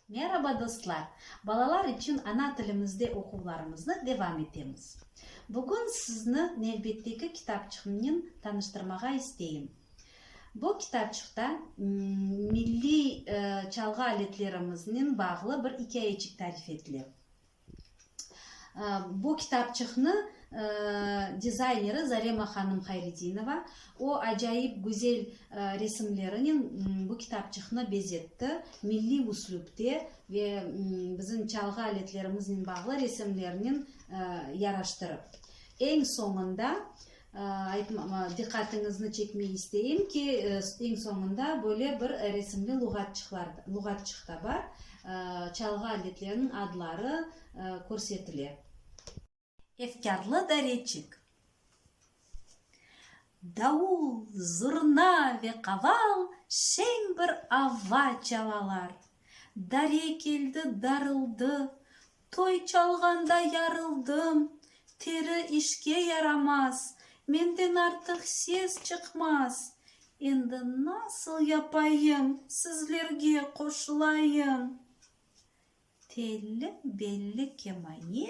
Meraba dostlar! Balalar içün ana tilimizde oquvlarımıznı devam etemiz. Bugün sizni nevbetteki kitapçıqnen tanıştırmağa isteyim. Bu kitapçıqta milliy çalğı aletlerimiznen bağlı bir ikâyeçik tarif etile. Bu kitapçıqnı dizayneri Zarema hanım Hayridinova. O, acayip güzel resimlerinen bu kitapçıqnı bezetti. Milliy üslüpte ve bizim çalğı aletlerimiznen bağlı resimlernen yaraştırıp. Eñ soñunda Aytmama, diqqatiñizni çekmey isteyim ki, eñ soñunda böyle bir resimli luğatçıqlar, luğatçıq da bar, çalğı aletleriniñ adları körsetile. Efkârlı dareçik. Davul, zurna ve qaval şeñ bir ava çalalar. Dare keldi, darıldı, Toy çalğanda yarıldım, teri işke yaramaz, menden artıq ses çıqmaz. Endi nasıl yapayım, sizlerge qoşulayım? Telli, belli kemane,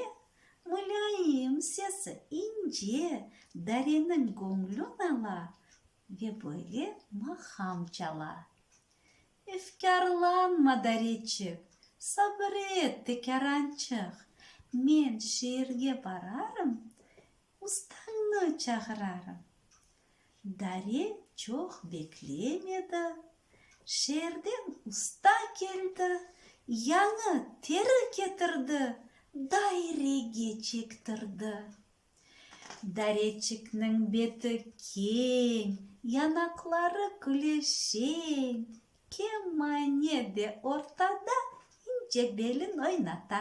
mülâyim sesi ince, dareniñ göñlün ala ve böyle maham çala. Efkârlanma, Daritçik, sabır et, tekârançıq, men şeerge bararım, ustañnı çağırarım. Dare çoq beklemedi, şeerden usta keldi, yañı teri ketirdi, dairege çektirdi. Dareçikniñ beti keñ, yanaqları küleşeñ, kemane de ortada ince belin oynata.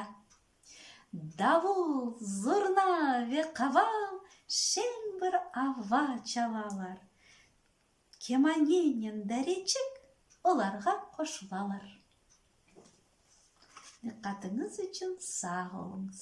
Davul, zurna ve qaval şeñ bir ava çalalar. Kemanenen Dareçik olarğa qoşulalar. Diqqatıñız içün sağ oluñız.